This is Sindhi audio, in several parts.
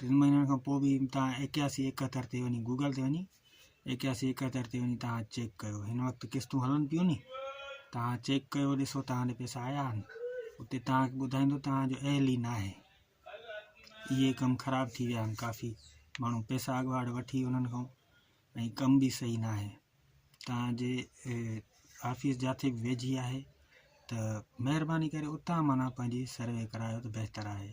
ٽن مهينن کان پوء به توهان ايڪياسي ايڪهتر تي وڃي گوگل تي وڃي ايڪياسي ايڪهتر تي وڃي توهان چيڪ ڪيو هن وقت قسطون هلن پيون ني توهان چيڪ ڪيو ڏسو توهان ڏي پيسا آيا آهن اتي توهانکي ٻڌائيندو توهان جو اهل ئي ناهي اهي ڪم خراب ٿي ويا آهن ڪافي ماڻهو پيسا اڳواٽ وٺي انهن کان ۽ ڪم به صحيح نه آهي توهان جي آفيس جاٿي به ويجهي آهي ته مهرباني ڪري اتان مانا پنهنجي سروي ڪرايو ته بهتر آهي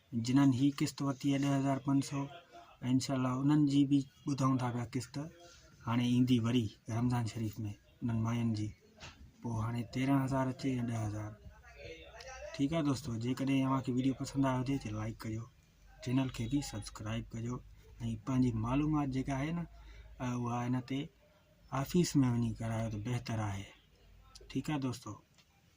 جنھن ھي قسط ورتي آھي ڏهه هزار پنج سؤ ۽ انشاء الله انھن جي به ٻڌون ٿا پيا قسط هاڻي ايندي وري رمضان شريف ۾ انھن ماين جي پوء هاڻي تيرهن هزار اچي يا ڏهه هزار ٺيڪ آھي دوستو جيڪڏهن اوھان کي ويڊيو پسند آيو هجي ته لائڪ ڪجو چينل کي به سبسڪرائب ڪجو ۽ پنھنجي معلومات جيڪا آھي نه اها هن تي آفيس ۾ وڃي ڪرايو ته بهتر آھي ٺيڪ آھي دوستو